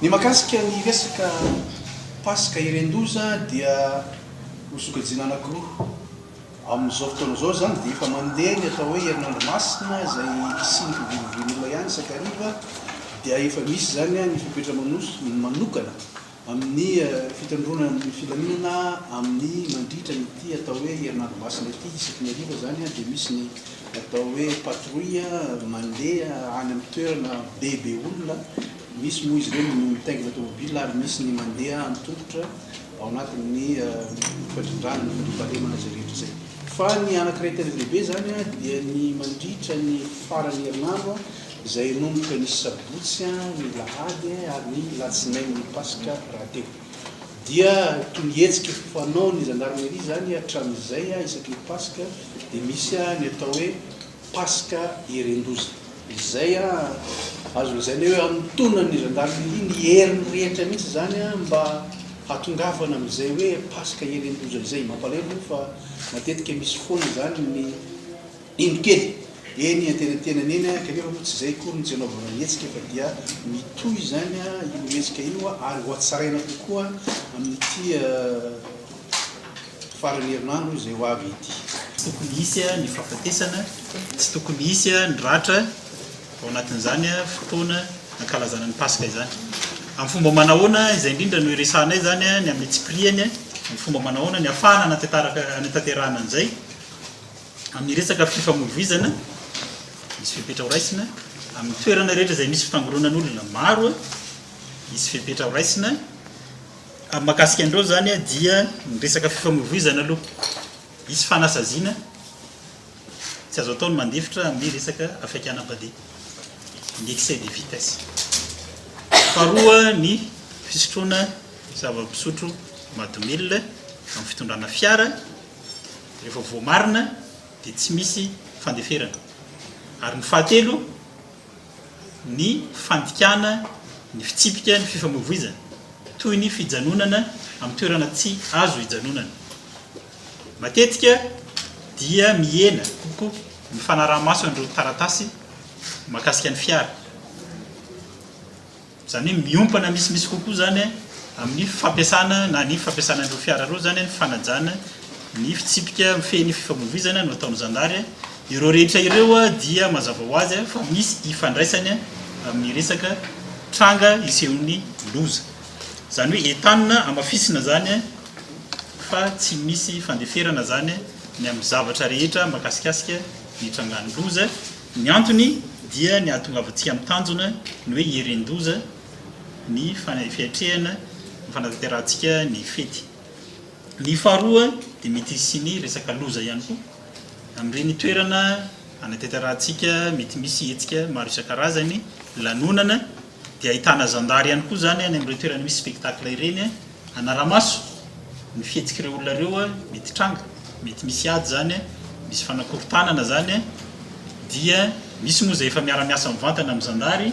Ny mahakasika ny resaka Paska iren-doza dia nosokajiana anankiroa. Amin'izao fotoana izao izany dia efa mandeha ny atao hoe Herinandro Masina izay hisian'ny fivorivorin'olona ihany isan-kariva dia efa misy izany ny fepetra manokana amin'ny fitandroana ny filaminana amin'ny mandritra an'ity atao hoe herinandro masina ity, isaky ny hariva izany dia misy ny atao hoe patrouille mandeha any amin'ny toerana be be olona, misy moa izy ireny no mitaingina tomobil ary misy ny mandeha an-tongotra ao anatin'ny fandrindrana ny fandriampahalemana izay rehetra izay. Fa ny anankiray tena lehibe izany dia ny mandritra ny faran'ny herinandro, izay hanomboka ny sabotsy ny alahady ary ny latsinainy ny paska rahateo dia toy ny hetsika fanao ny zandarmeria izany hatramin'izay isaky ny paska dia misy ny atao hoe paska heren-doza izay azo lazaina hoe anontonan' ny zandarmeria ny heriny rehetra mihitsy izany mba hatongavana amin'izay hoe paska heren-doza izay mampalahelo moa fa matetika misy foana izany ny Indro kely, eny iantenantenany eny, kanefa moa tsy izay akory no tsy anaovana hetsika fa dia mitohy izany io hetsika io ary hohatsaraina kokoa amin'ity faran'ny herinandro izay ho avy ity. Tsy tokony hisy ny fahafatesana, tsy tokony hisy ny ratra ao anatin'izany fotoana hankalazana ny Paska izany. Amin'ny fomba manahoana, izay indrindra no iresahanay izany ny amin'ny antsipirihany, amin'ny fomba manahoana ny ahafahana hanatanterahana an'izay? amin'ny resaka fifamoivoizana, hisy fepetra horaisina, amin'ny toerana rehetra izay misy fifangoronan'olona maro, hisy fepetra horaisina, amin'ny mahakasika an'ireo izany dia ny resaka fifamoivoizana aloha, hisy fanasaziana, tsy azo atao ny mandefitra amin'ny resaka hafaikanam-padeha, ny excès de vitesse. Faharoa ny fisotroana zava-pisotro mahadomelina amin'ny fitondrana fiara, Rehefa voamarina dia tsy misy fandeferana. Ary ny fahatelo, ny fandikana ny fitsipika ny fifamoivoizana, toy ny fijanonana amin'ny toerana tsy azo hijanonana. Matetika dia mihena kokoa ny fanaraha-maso an'ireo taratasy mahakasika ny fiara. Izany hoe miompana misimisy kokoa izany amin'ny fampiasana na ny fampiasana an'ireo fiara ireo izany ny fanajana ny fitsipika mifehy ny fifamoivoizana no ataon'ny zandary. Ireo rehetra ireo dia mazava ho azy fa misy ifandraisany amin'ny resaka tranga isehoan'ny loza. Izany hoe entanina hamafisina izany fa tsy misy fandeferana izany ny amin'ny zavatra rehetra mahakasikasika ny trangan'ny loza. Ny antony dia ny hahatongavantsika amin'ny tanjona, ny hoe hieren-doza ny fiatrehana ny fanatanterahantsika ny fety. Ny faharoa dia mety hisian'ny resaka loza ihany koa amin'ireny toerana hanatanterahantsika, mety misy hetsika maro isan-karazany, lanonana. dia ahitana zandary ihany koa izany any amin'ireo toerana misy spectacle ireny hanara-maso ny fihetsik'ireo olona ireo mety hitranga, mety misy ady izany, misy fanakorontanana izany dia misy moa izay efa miara-miasa mivantana amin'ny zandary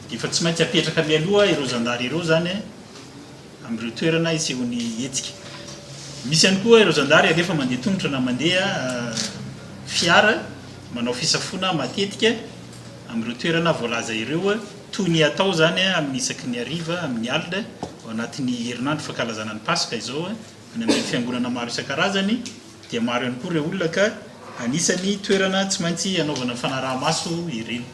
dia efa tsy maintsy apetraka mialoha ireo zandary ireo izany amin'ireo toerana hisehoan'ny hetsika. Misy ihany koa ireo zandary alefa mandeha tongotra na mandeha fiara manao fisafoana matetika Amin'ireo toerana voalaza ireo, toy ny atao izany amin'ny isaky ny hariva, amin'ny alina, ao anatin'ny herinandro fankalazana ny Paska izao, any amin'ny fiangonana maro isan-karazany, dia maro ihany koa ireo olona ka anisany toerana tsy maintsy hanaovana ny fanaraha-maso ireny.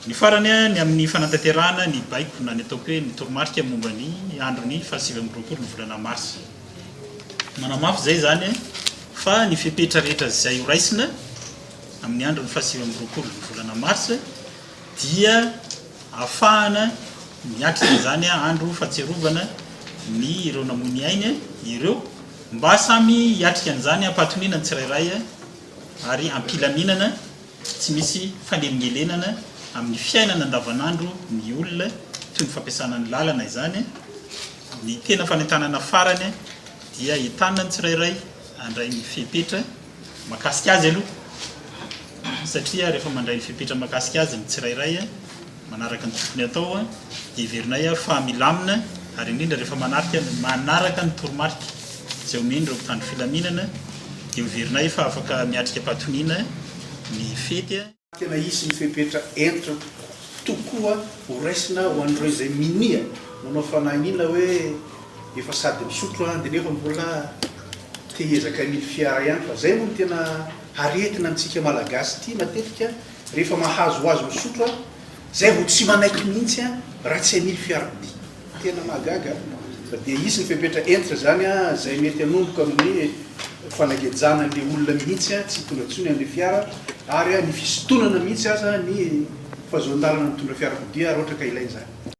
Ny farany, ny amin'ny fanantanterahana ny baiko na ny ataoko hoe ny toromarika momba ny andron'ny fahasivy amby roapolo ny volana marsa. Manamafy izay izany fa ny fepetra rehetra izay horaisina, Amin'ny andron'ny fahasivy amby roapolo ny volana marsa dia afahana miatrika izany andro fatsiarovana ny ireo namoy ny ainy ireo mba samy hiatrika an'izany ampahatoniana ny tsirairay ary ampilaminana tsy misy fanelingelenana amin'ny fiainana andavanandro ny olona toy ny fampiasana ny lalana izany ny tena fanentanana farany dia entanina ny tsirairay handray ny fepetra Mahakasika azy aloha satria rehefa mandray ny fepetra mahakasika azy ny tsirairay manaraka ny tokony atao dia heverinay fa milamina ary indrindra rehefa manarika manaraka ny toromarika izay omen'ireo mpitandro filaminana dia heverinay fa afaka miatrika am-patoniana ny fety. Tena hisy ny fepetra hentitra tokoa horaisina ho an'ireo izay minia manao fanahiniana hoe efa sady misotro an, dia nefa mbola te hiezaka ny fiara ihany fa izay moa no tena aretina amintsika malagasy ity matetika rehefa mahazo ho azy misotro an, izay vao tsy manaiky mihitsy an raha tsy hamily fiarakodia. Tena mahagaga fa dia hisy ny fepetra hentitra izany izay mety hanomboka amin'ny fanagejana an'ilay olona mihitsy, tsy hitondra intsony an'ilay fiara ary ny fisintonana mihitsy aza ny fahazoan-dalana mitondra fiarakodia raha ohatra ka ilaina izany.